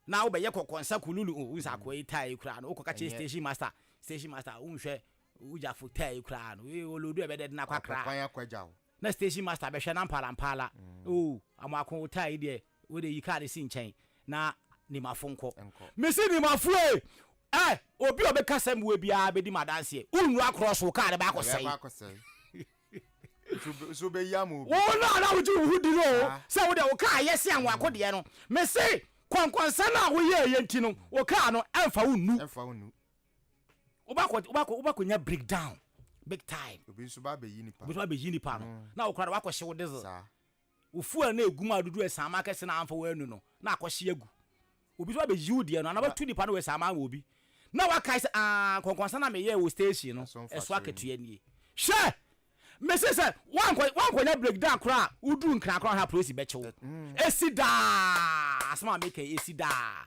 Na wobɛyɛ kɔkɔnsa kululu, o oh, nsa akɔ yi taa yi kora, na wokɔ ka kyerɛ station master, station master, wonhwɛ Wo gyafo taa yi koraa no wei o lodu ɛbɛdɛ den akwa kra. Ɔpɛ kwan akɔ agya wo. Na station master bɛhwɛ na mpaala mpaala. Mm. Oo amoako wo taa yi deɛ wo de yi kaa ne si nkyɛn na nimafo nkɔ. Nkɔ. Mesi nimafo e! Ɛ obi a ɔbɛka sɛm wɔ biara bɛdi ma adanseɛ. Wonnu akorɔ so kaa no bɛakɔ sɛe. Ɛbɛkɔ akɔ sɛe. So bɛyi ama obi. Wo no a na wogye wo ho di no o sɛ wo deɛ wo kaa yɛ se amoako deɛ no mese kɔnkɔnsɛn a woyɛɛyɛ nti no wo kaa no ɛmfa wo nnu. Ɛmfa wo nnu. wobakɔ wobakɔ wobakɔ nya break down big time. obi nso ba abɛyi nipa obi nso ba abɛyi nipa no mm. na okura de wakɔ hyew diesel saa ofu a na egu mu a dodo ɛsama akɛse na anfa wɔanu no na akɔ hye agu obi nso abɛyi wo deɛ no anaba tu nipa no wɔ ɛsama wɔ obi na wakae sɛ aa nkɔnkɔnsa na meyɛ wɔ station no ɛso akatua nie hwɛ mese sɛ woankɔnya breakdown koraa woduru nkra koraa ha polisi bɛkyew ɛsi mm. daa asɛm a meka ɛsi daa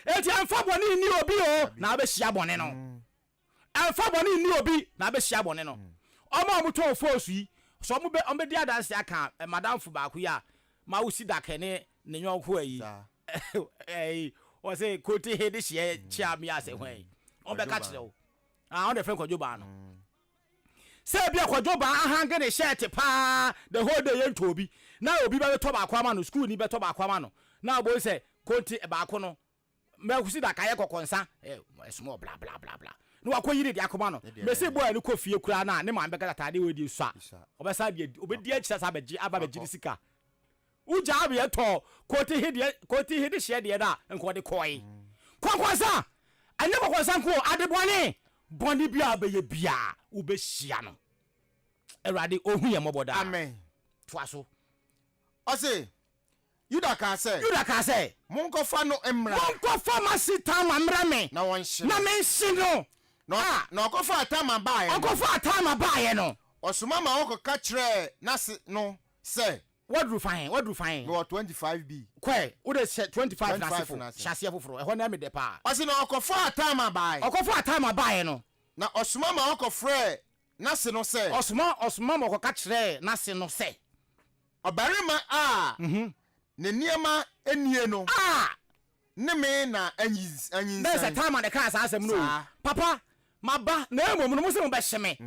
Enti ɛmfa bɔne nni obi o, na wobɛhyia bɔne no. Ɛmfa bɔne nni obi, na wobɛhyia bɔne no. Wɔn a wɔtɔn phones yi, sɛ wɔbɛdi adanse aka madamfo baako yi a, ma wosi dake ne ne yɔnko ayi, ɛyi, wɔse kote he de hyeɛ kyea me ase hwan, wɔbɛka kyerɛ wo. Ah, wɔn na ɛfrɛ no kwadwobaa no. sɛ ebia kwadwo baa ahange ne hyɛɛte paa the whole day yɛntɔ obi na obi bɛtɔ baako ama no sukuu ni bɛtɔ baako ama no na ɔbɔ sɛ konte baako no mɛkusi da kayɛ kɔkɔnsa ɛsoma eh, bla bla bla bla na wakɔ yiri de akoma no mɛsi bɔ a ne kɔ fie kura na ne maame bɛka tataade wɔ di sua ɔbɛsa deɛ ɔbɛdi akyira sa abɛgye aba bɛgye ne sika Wo gyaa weɛ tɔɔ Korti he deɛ Korti he de hyeɛ deɛ no a nka ɔde kɔɔe. Kɔkɔnsa! Ɛnyɛ kɔkɔnsa nko o, adebɔne! Bɔne biaa wobɛyɛ biaa, wobɛhyia no. Awurade, Ɔhu yɛ mmɔbɔ daa. Amen. Toa so. Ɔse, Yuda kaa sɛ. Yuda kaa sɛ. Monkɔfa no mmra. Monkɔfa m'ase Tamar mmrɛ me. Na wɔnhye no. Na menhye no. Na, ah. Na ɔkɔfaa Tamar baeɛ no. Ɔkɔfaa Tamar baeɛ no. Ɔsoma ma wɔkɔka kyerɛɛ n'ase no sɛ. Waduru fa he? Waduru fa he? Mewɔ 25B. Kɔɛ, wode hyɛ 25 no ase fo. 25 no ase. Hyɛ aseɛ foforo. Ɛhɔ no ɛyɛ me dɛ paa. Ɔse na ɔkɔfaa Tama baae. Ɔkɔfaa Tama baaɛ no. Na ɔsoma ma wɔkɔfrɛɛ n'ase no sɛ. Ɔsoma, ɔsoma ma wɔkɔka kyerɛɛ n'ase no sɛ. Ɔbarima a ne nneɛma nie no. A! ne me na anyinsɛn. Dɛn sɛ Tamar na ɛkaa saa asɛm no o! Papa, maba, na mmom no, mose mobɛhye me,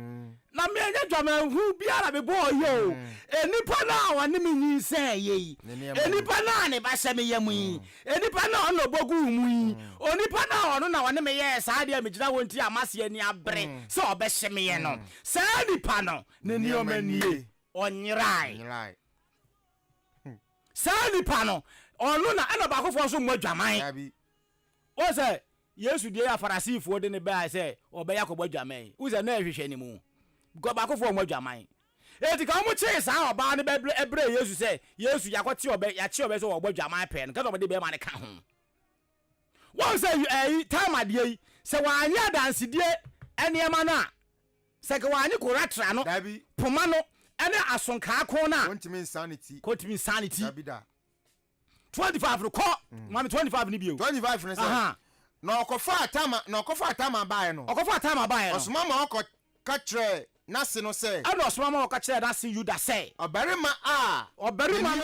na menyɛ dwamanhunu biara na mebɔɔ yi o. Onipa no a ɔne me nyinsɛneeɛ yi, onipa no a ne ba hyɛ me yam yi, onipa no a ɔno na ɔbɔ guu mu yi, onipa no a ɔno na ɔne me yɛɛ saa adeɛ a megyina hɔ nti a mase ani abere sɛ ɔbɛhye meɛ no, saa nipa no ne nneɛma nie, ɔnyerae. Saa nipa no, ɔno na ɛna baako foɔ nso mmɔ adwaman. Wɔn sɛ Yesu deɛ yɛ afarasifoɔ de ne bɛa sɛ ɔbɛyɛ akɔbɔ adwaman yi. Wɔn sɛ na ɛhwehwɛ ne mu. Because baako foɔ mmɔ adwaman. Eti ka wɔn kyee saa ɔbaa no bɛ ɛbrɛ Yesu sɛ Yesu yakɔte ɔbɛ yakye ɔbɛ sɛ ɔbɔ adwaman pɛɛ no kɛsɛ ɔmo de bɛɛma no ka ho. Wɔn sɛ ɛyi time adeɛ yi sɛ wɔanye adansedie nneɛma no a sɛ ka wɔanye koratra no poma no ɛne asonkaa ko no a wɔntumi nsan ne ti wɔntumi nsan ne ti dabi da 25 no kɔ mm. maame 25 no bio 25 no sɛ na ɔkɔfa atama na ɔkɔfa atama baeɛ no ɔkɔfa atama baeɛ no ɔsoma ma ɔkɔ ka kyerɛ n'ase no sɛ ɛna ɔsoma ma ɔka kyerɛ n'ase yuda sɛ ɔbarima a ɔbarima no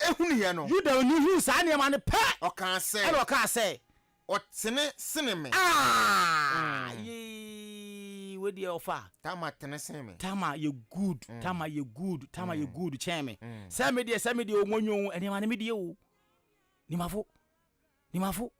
hunuiɛ no. Yudani huu saa nneɛma no pɛ, Ɔkaa sɛ. ɛnna ɔkaa sɛ. Ɔtene sene me. Aah! Yei! Wei deɛ ɔfa. Tamar tene sene me. Tamar yɛ good, Tamar yɛ good, Tamar yɛ good kyɛn me. Sɛ me deɛ, sɛ me deɛ o, monyoo nneɛma no me deɛ o. Nimafo. Nimafo,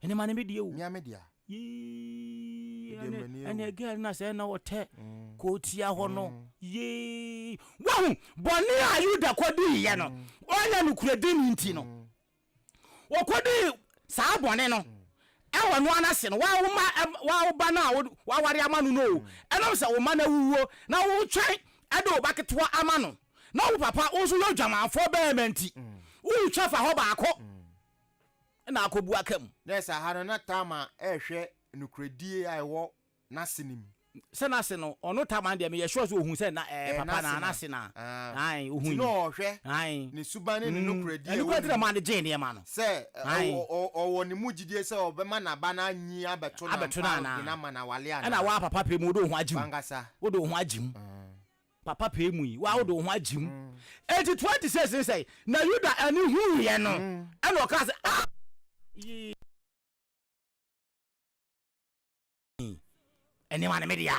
ɛne ma ne me deɛ o. Mia me dea. Yee, ɛne girl na sɛ na ɔtɛ mm. kootia hɔ no. Mm. Yee. Wahu, bɔne a Yuda kɔdiiɛ no, mm. ɔnyɛ nokorɛdi no nti no, ɔkɔdii saa bɔne no ɛwɔ no ana se no wawoma wawoba no a waware ama no no o ɛnam sɛ wo ma no awuwuo na wotwɛn ɛde wo ba ketewa ama no na wo papa wo nso yɛ odwamanfoɔ bɛɛma nti wotwa fa hɔ baako na akɔbu aka mu. Yes, aha no na Tamar rehwɛ nokorɛdie a ɛwɔ n'ase no mu. Sɛ n'ase no, ɔno Tamar deɛ meyɛ sure sɛ ɔhu sɛ na ɛyɛ papa na n'ase na ae ɔhu yi. Ti na ɔhwɛ ne suban ne ne nokorɛdie a ɛwɔ ne mu. Ɛno kura ti na maa no gyee nneɛma no. Sɛ ɔwɔ ne mu gyidie sɛ ɔbɛma n'aba no anyi abɛto no ampa ɔde no ama no awale anaa. Ɛna waa papa pɛ mu wode wo ho agye mu. W'ankasa. Wode wo ho agye mu. Papa pɛɛ mu yi, wo ara wode wo ho agye mu. Enti 26 no sɛe, na Yuda ani huiɛ no, ɛna ɔkaa sɛ, Ah! Yii! Nneɛma no me dea.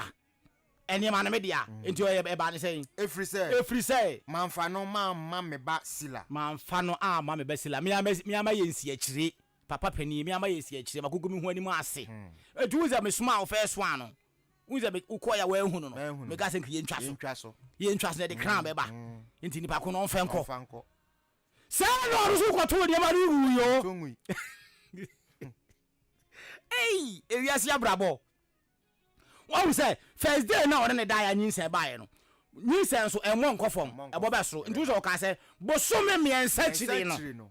Nneɛma no me dea. Enti ɔyɛ ɛbaa ne sɛn? Ɛfiri sɛ. Ɛfiri sɛ. Mamfa no mamma me ba Sila. Mamfa no amma me ba Sila. Me ara mɛyɛ nsiakyire. Papa panin, me ama yɛasi akyire, magogo me ho anim ase. Enti wohu sɛ mesomaa wo first one no, wohu sɛ me wokɔɔ yɛ wɔahunu no, meka sɛ nka yɛntwa so. Yɛntwa so na ɛde kran mm, bɛba. Mm. Enti nipa ko no ɔmfa nkɔ. Saa na ɔno so kɔtoo nneɛma no wui o. Ei, ewiase abrabɔ. Wahu sɛ first day na ɔne ne daeɛ a nyinsɛn baeɛ no, nyinsɛn so ɛmmɔ nkɔ fam, ɛbɔ bɛ soro. Nti wo sɛ ɔkaa sɛ bosome mmiɛnsa kyiri no.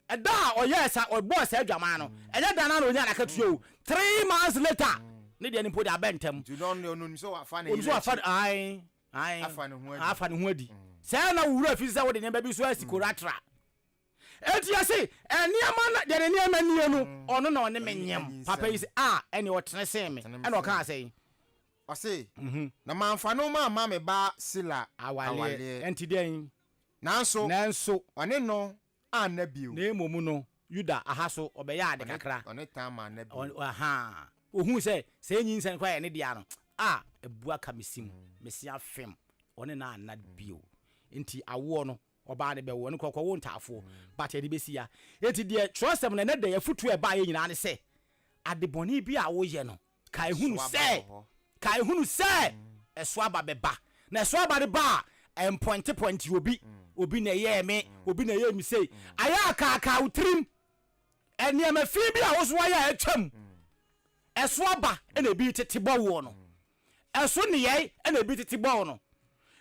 Da a ɔyɛɛ saa, ɔbɔɔ saa adwaman no, ɛnyɛ da no ara na ɔnyaa n'akatua o. Three months later, ne deɛ no mpo deɛ abɛ ntɛm. Nti ɔno deɛ ɔnim sɛ wafa ne yere akyi. Ae, ae. Afa ne ho adi. Afa ne ho adi. Sɛɛ na wo wura fi sɛ wode nneɛma bi nso asi koratra. Enti yɛse, nneɛma no, deɛ ne nneɛma nie no, ɔno na ɔne me nyem. Papa yi se, a, ɛneɛ ɔtene sen me. Ɛna ɔkaa sɛn? Ɔse, Na mamfa no mamma me ba Sila awaleɛ. Enti deɛn? Nanso, Nanso, ɔne no anna bio. na mmom no, Yuda aha so ɔbɛyɛɛ ade Ɔne, kakra. ɔne Tamar anna bio. Ɔ- Aha. Ohuu sɛ sɛ ɛyɛ nyinsɛn koraa a ɛyɛ ne dea no, a, abu aka me sim, me se afem. Ɔne no anna bio. Enti awoɔ no, ɔbaa no bɛwo, ɔno koraa ɔkɔwoo ntaafoɔ. But ɛde bɛsi ya. Enti deɛ twerɛsɛm no, ɛnɛ da yi, afotuo a ɛbaeɛ nyinaa ne sɛ, adebɔne bi a woyɛ no, Kae hunu sɛ, kae hunu sɛ, ɛso aba bɛba. Na ɛso aba no ba a, ɛmpɔntepɔnte obi. Obi na ɛyɛɛ me, obi na ɛyɛɛ me sei. Ayɛ a kaakaa wo tirim. Nneɛma fi bi a wo nso ayɛ a atwam. Ɛso aba na ebi tete bɔ woɔ no. Ɛso nneyɛe na ebi tete bɔ wo no.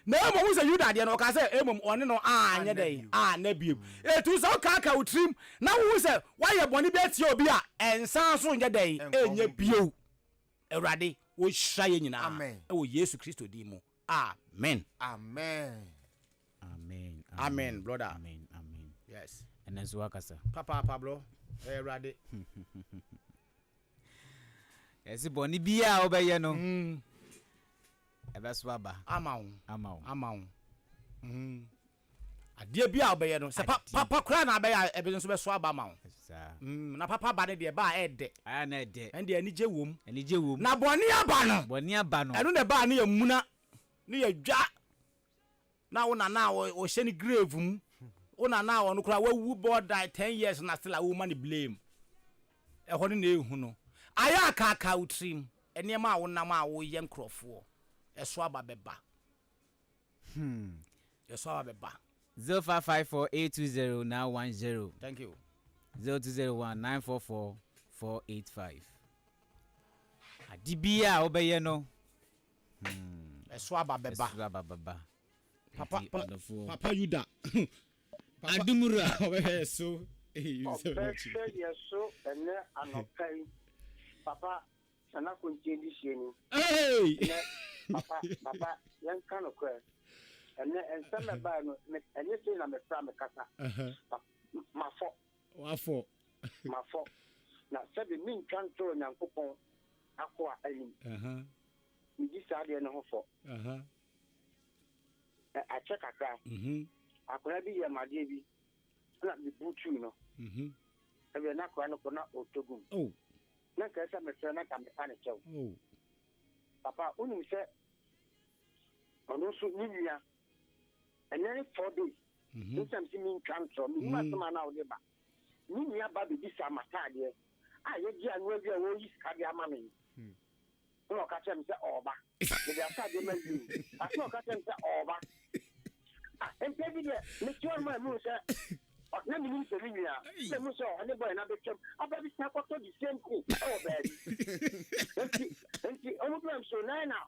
Na mmom sɛ Yuda deɛ no, ɔkaa sɛ, mmom ɔne no anyɛ dɛn? Anna bio. Etu sɛ wokaakae wo tirim na wohu sɛ woayɛ bɔne bi atia obi a, nsan so nyɛ dɛn? Nyɛ bio. Awurade ɔnhyira yɛn nyinaa wɔ Yesu Kristo din mu, amen. Amen. Amen. Amen brother. Amen. Amen. Yes. Ɛnɛ nso wakasa. Papaapa bro. Ɛyɛ Awurade. Ɛsi bɔne biara a wobɛyɛ no. Mm. Ɛbɛso aba. Ama wo. Ama wo. Ama wo. Mm. Adeɛ bi a wobɛyɛ no sɛ papa koraa na abɛyɛ a ɛbɛso nso bɛso aba ama wo. Mm. Na papa aba no deɛ ɛba a ɛɛdɛ. Ɛyɛ na ɛdɛ. Ɛno deɛ anigye wom. Anigye wom. Na bɔne aba no. Bɔne aba no. Ɛno na ɛba a ne yɛmuna, ne yɛdwa. na wo nana a ɔhyɛ ne grave mu wo nana a ɔno koraa wawu bɔɔ dae ten years na still a woma ne blame ɛhɔ no na ehu no ayɛ akaaka wo tirim nneɛma a wonam a woyɛ nkurɔfoɔ ɛso aba bɛba hmm. ɛso aba bɛba. zero five five four eight two zero nine one zero. thank you. zero two zero one nine four four four eight five. ade bi a wobɛyɛ no hmm. ɛso aba bɛba ɛso aba bɛba papa pa, papa yuda adumura ɔbɛhwɛ ɛso ɔbɛhwɛ yɛ so ɛnɛ anɔpa yi papa sana kontie di hyɛ ni ɛnɛ papa papa yɛnka no korɛ ɛnɛ nsɛm ɛbaa no ɛnyɛ sɛ na mefra mekasa mafɔ Wafɔ. Mafɔ, na sɛbe mentwa ntoro Nyankopɔn akoa anim. Medi saa adeɛ no ho fɔ. Ɛ, akyɛ kakra, akoa bi yɛɛ me adeɛ bi, ɛna mebutuui no. Ɛwiɛ, na akoa no kɔ na ɔtɔ gum. Na nka ɛsɛ mefrɛ na nka mepa ne kyɛw. Papa, wonim sɛ ɔno nso ne nua, ɛnnɛ ne four days. Mm-hmm. Nsɛm si mi ntwa ntorɔ, menim mm-hmm. asɛm a na wode ba. Me nua ba bɛbisaa m'ataadeɛ a yɛgye ano awie a wɔreyi sika de ama me. Hmm. Ɛna ɔka kyerɛ me sɛ ɔreba. Mede ataadeɛ ma wie. Asɛ ɔka kyerɛ me sɛ ɔreba. Ah, mpɛ bi deɛ, mete hɔ ma mu sɛ na menim sɛ me nua na mu sɛ ɔne bɔɛ na bɛtwam aba bi sa kɔtɔ the same thing ɛwɔ baabi nti nti ɔmo bi am so na na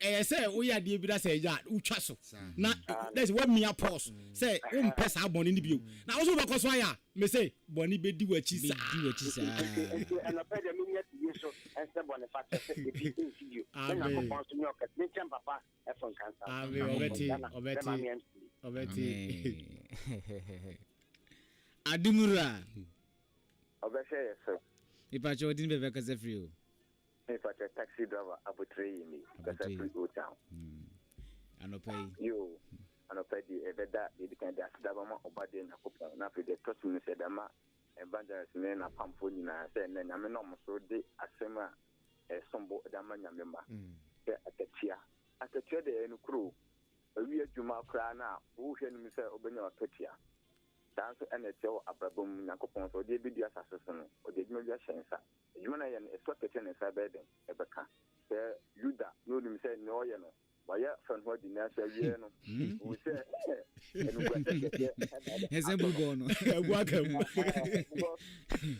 Ɛyɛ sɛ woyɛ adeɛ bi na sɛ ɛyɛ a wotwa so na dɛ sɛ woamia pause sɛ wompɛ saa bɔne no bio na wo so wobɛkɔ so ayɛ a mese bɔne bɛdi w'akyi saa. Nti anɔpɛ deɛ menya bie so ɛnsɛ bɔne fakyɛ sɛ ebi nsi bio na Nyankopɔn so nyɛ ɔkɛse menkyɛ mpapa ɛfo nkansa Nyankopɔn Ghana bɛma me amfie. Ademura. Ɔbɛhwɛ yɛ so. Mepakyɛ ɔde ne bɛbɛkasa firi o. Me pakyɛ taxi driver aboterɛ yi ni kasa firi Old Town. Hmm. Anɔpa yi. Yo, anɔpa deɛ ɛbɛda deɛ ɛdi kan de aseda bɛma ɔba deɛ Nyankopɔn na afei deɛ ɛtɔ so mmiɛnsa ɛde ama evangelist ne n'apamfoɔ nyinaa sɛ ɛnɛ Nyame na wɔn so de asɛm a ɛsombo de ama Nyame ma hmm. sɛ akatua akatua deɛ ɛyɛ no kuro awi adwuma koraa no a wohwɛ no mu sɛ wobɛnya wakatua saa nso ɛna ɛteɛ wɔ abrabɔ mu Nyankopɔn sɛ ɔde abɛdi asase so no ɔde adwuma bi ahyɛ nsa Adwuma no a ɛyɛ no, ɛsɔ kɛtɛ ne nsa bɛyɛ dɛn? Ɛbɛka sɛ Yuda na onim sɛ nea ɔyɛ no, wayɛ fa ne ho adi, nanso awiei no, ohu sɛ animguase kɛse na ɛde ato Ɛsɛ no. bubɔɔ no. Abu aka mu. Ɛhɛn, because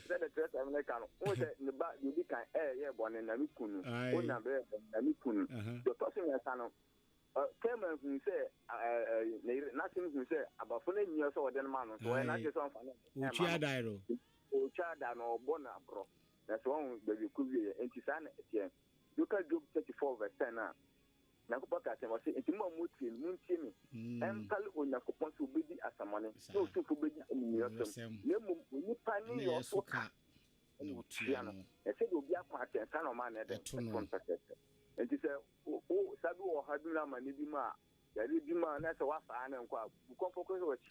sɛdeɛ Kyerɛwsɛm no ka no, wohu sɛ ne ba deɛ ɔdi kan ɛ, yɛɛ bɔne, na ne kun no. Aye. Onan bɛyɛɛ bɔne, na ne kun no. Aha. Deɛ ɔtɔ so mmiɛnsa no, ɛ, Tamar huu sɛ a, ɛ, ɛ, ne yere, n'aseni huu sɛ abafo no anyi ɔsɛ sɛ wɔde no ma no, nso ɔyɛ Aye. n'adwene sɛ ɔmfa no mma Ɔtwi no. adae no. Otwa ada na ɔbɔ no aborɔ, na sɛ wahu baabi ɛkɔwieɛ. Enti saa na ɛteɛ. Nti woka Job 34 vs 10 a, Nyankopɔn kaa sɛn? Ɔse, Enti mo a motie me, montie me, ɛmpale Onyankopɔn sɛ ɔbɛdi asammɔne, ne ɔsomfoɔ bɛnya amumuyɔsɛm, na mmom onipa nneyɔɔ so ka na ɔtua no, na sɛdeɛ obi akwan teɛ no, saa na ɔma no yɛdɛn? Ɛto no pɛpɛɛpɛ. Enti sɛ wo sa bi wɔ ɔhaw bi mu anaa amane bi mu a, yareɛ bi mu a, na ɛsɛ sɛ woafa ara na nkɔ a, bu kɔmpɔkɔ hwɛ w'akyi.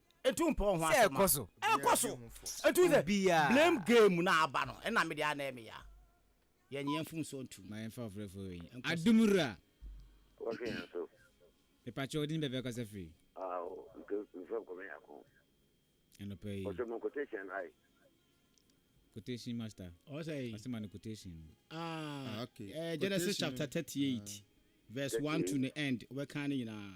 Etu mpɔ ho asɛm. Sɛ ɛkɔ so. Ɛkɔ so. Etu sɛ. Obiara. Blame game na aba no. Ɛna mi de ana ɛmi ya. Yɛn yɛn fun so ntum. Ma yɛn fa ɔfrɛ fo wei. Adum wura. Wɔhwɛ yɛn so. Mipakyɛ ɔdi ni bɛbɛ kasa firi. Ah o nke nfa nkɔmɛ yɛ akɔn. Ɛnɔpɛ yi. Ɔsɛ mo quotation ayi. Quotation master. Ɔsɛ yi. Ɔsɛ ma no quotation. Ah okay. Genesis chapter thirty eight verse one to the end. Ɔbɛ kan ne nyinaa.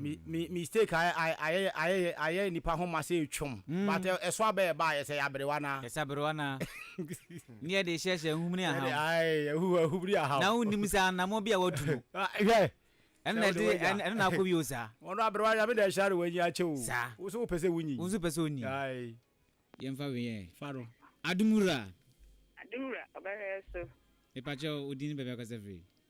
mi mi mistake ayɛ ayɛ ayɛ ayɛ nipa ho ma sɛ etwam mm. but ɛso abɛ ɛba ayɛ sɛ yaberewa na. ɛsɛ aberewa na ne yɛ de hyɛhyɛ nhumuni aham. ɛde ayi ehu ehumuni aham. na wonim sɛ anamɔ bi a watu no. Ah, hwɛ. ɛno na ɛde ɛno na akɔ bi o saa. wɔn aberewa yɛ abɛda ɛhyɛ de wɔn anyi akyɛ o. saa woso wopɛ sɛ wonyi. woso pɛ sɛ onyi. ayi. yɛn fa wiyɛ. fa do. adumura. adumura ɔbɛhwɛ so. mipakyɛw odin bɛbɛ kɔsɛ firi.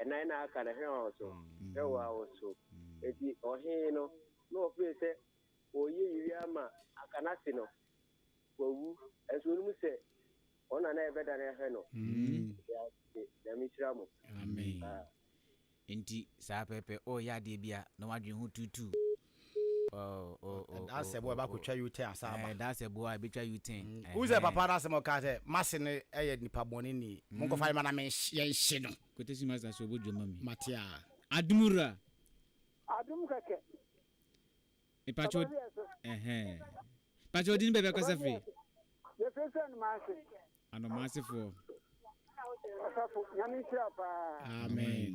ɛnan na aka no, hena ɔso? Yehowa ɔso. Enti ɔhene no, na ɔpere sɛ ɔreyɛ yei ara ma anka n'ase no, wawu. Nanso ɔnnim sɛ wɔn na na ɛbɛdane ahwɛ no. Yɛda ase. Nyame nhyira mo. Amen. Enti saa pɛpɛ, ɔreyɛ adeɛ bi a, na wadwene ho tuutuu. Ɛdaasɛ boa ɛba kɔtwa U-turn asan aba. Ɛdaasɛ boa ɛbɛtwa U-turn. Wohu sɛ papa no asɛm a ɔkaa sɛ m'ase no yɛ nipa bɔne ni, monkɔfa yɛmma na yɛnhye no. Kwetesi Master so bɔ dwom ma me. Mate a. Adom wura. Adom kɛkɛ. Mepakyɛ o ɛhɛn. Pakyɛ odin baabi akasa firi. Yɛfiri sɛ Anomaase. Anomaase foɔ. Ɔsafo nyame nhyira paa. Amen.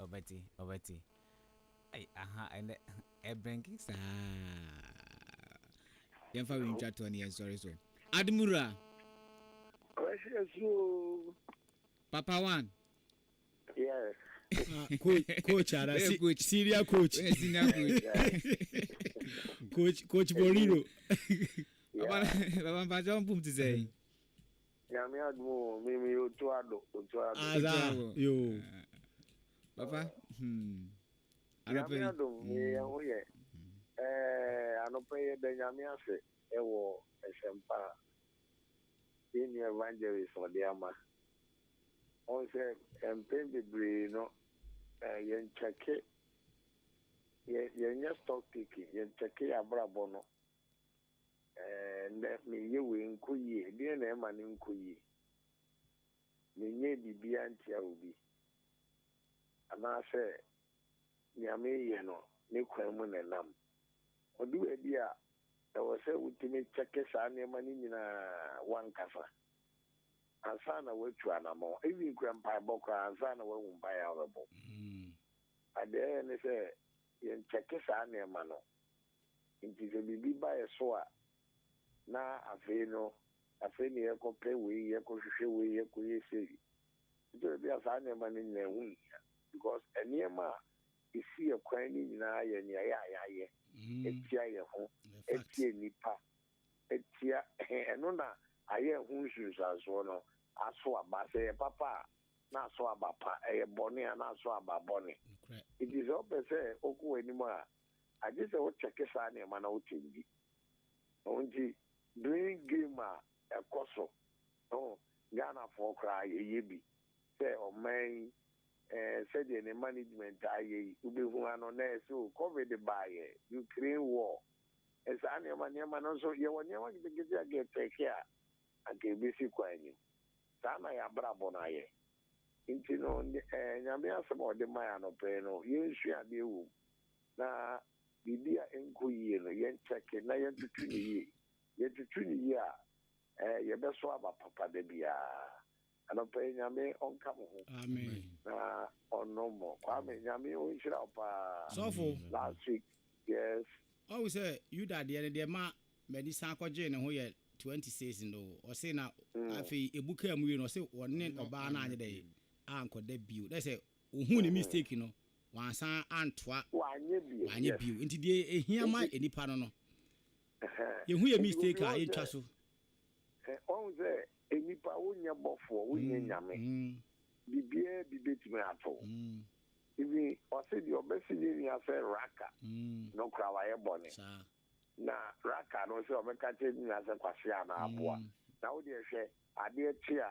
Ɔbɛte, ɔbɛte. Ai aha ɛnɛ ɛbrenke saa. Yɛmfa wei ntwa toɔ na yɛnsɔre so. Admura. Kwasi asu oo. Papa one. Yes. Ah, coach, coach ara, si, coach. senior coach. Where senior coach? coach, coach Boriro. Baba, baba mpacho mpum ti sey. Nyame adom o me meyɛ otu ado otu ado. Otu ado yoo papa hmm. Anɔpa yi. Nyame adom yɛ yɛn ho yɛ ɛɛ anɔpa yi yɛda Nyame ase ɛwɔ ɛsɛmpa a yɛn nua evangelist ɔde ama. Wɔn sɛ mpɛn bebree no ɛɛ yɛn kyɛke yɛ yɛn nyɛ stock taking yɛn kyɛke yɛ abrabɔ no. Ɛɛ, nnɛ menyɛ wei nkɔ yie. Deɛn na ɛma no nkɔ yie? Menyɛɛ biribiara ntia obi. Anaasɛ nea mereyɛ no, ne kwan mu na ɛnam. Ɔdu baabi a, ɛwɔ sɛ wotumi kyɛke saa nneɛma no nyinaa w'ankasa ansa na woatu anammɔn. Even kura mpaebɔ koraa, ansa na woahu mpaeɛ a wobɛbɔ. Adeɛ ɛyɛ ne sɛ, yɛnkyɛke saa nneɛma no. Ntsi sɛ biribi ba yɛ so a, na afei no, afei na yɛkɔpɛ wei, yɛkɔhwehwɛ wei, yɛkɔyɛ sei. Nkyɛ bi a saa nneɛma no nyina ho nnhia because nneɛma a esi yɛ kwan no nyina yɛ nea yɛ a yɛayɛ atia yɛ ho, atia nnipa, atia ɛno na ayɛ ho nsunsuansoɔ no aso aba. Sɛ ɛyɛ papa a, na aso aba pa, ɛyɛ bɔne a, na aso aba bɔne. Nti sɛ wopɛ sɛ wokɔ w'anim a, agye sɛ wo kyɛke saa nneɛma na wo kyɛn bi. Ɛno nti blame game a ɛkɔ so no Ghana foɔ koraa yɛ yɛ bi sɛ ɔman yi eh, sɛdeɛ ne management a yɛ yi wobɛhu ano na ɛsɛ o covid baayɛ, Ukraine war, eh, saa nneɛma nneɛma no nso yɛwɔ nneɛma ketekete a kɛtɛke a anka ɛbɛsi kwan nim. Saa na yɛ abrabɔ no ayɛ. Ntsi no, Nyame Asɛm a Ɔdze mae anɔpa yi no, yensua adze wɔ mu, na biribi a ennkɔ yie no, yɛnkyɛke na yɛntoto no yie. Yɛtoto no yie a, yɛbɛsow aba papa da biara. Anɔpa yi, Nyame Ɔnka mo ho na Ɔnnom mo. Kwame, Nyame Onhyira wo paa. Sɔfo. Last week, yes. Ɔhu sɛ Yuda deɛ no deɛ ma Madi san kɔgyee ne ho yɛ twenty six no o, ɔse na afei ebu kaa mu wie no ɔse ɔne ɔbaa no anyɛ dɛn ankɔda bio, dɛ sɛ ohuu ne mistake no wansan antoa wanyɛ bio, nti deɛ ehia ma nnipa no no yɛhu yɛn mistake a yɛntwa so. Wahu sɛ nnipa wonyɛ bɔfoɔ wonyɛ nyame biribiara bi bɛtumi ato wo even ɔse deɛ ɔbɛse ne nua sɛ raka no koraa wayɛ bɔne. Na raka no sɛ ɔbɛka kyerɛ ne nua sɛ kwasea anaa aboa. Na wo deɛ hwɛ, adeɛ kye a,